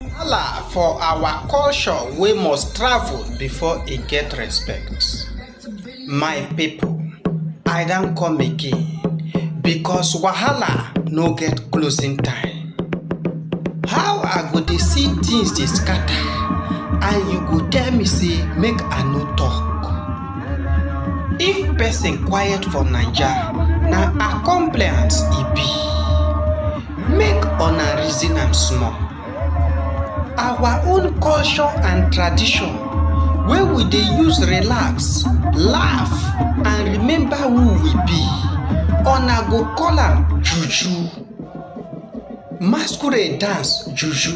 Wahala for our culture wey must travel before e get respect. My pipu, I don come again because wahala no get closing time. How I go dey see things dey scatter and you go tell me sey make I no talk? If person quiet for Naija, na accompliance e be. Make una reason am small. Our own culture and tradition wey we dey use relax, laugh and remember who we be, una go call am juju. Masquerade dance juju.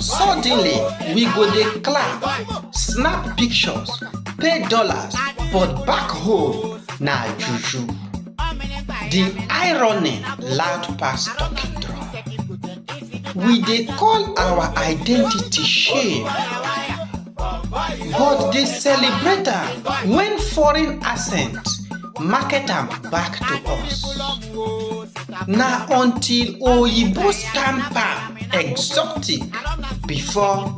Suddenly, we go dey clap, snap pictures, pay dollars, but back home na juju. The irony loud pass talking drum. We dey call our identity shame. but dey celebrate am when foreign accent market am back to us. Na until oyibo stamp am exotic before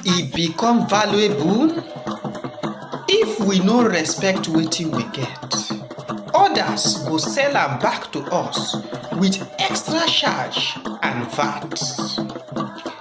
e become valuable if we no respect wetin we get. Others go sell am back to us with extra charge and VAT.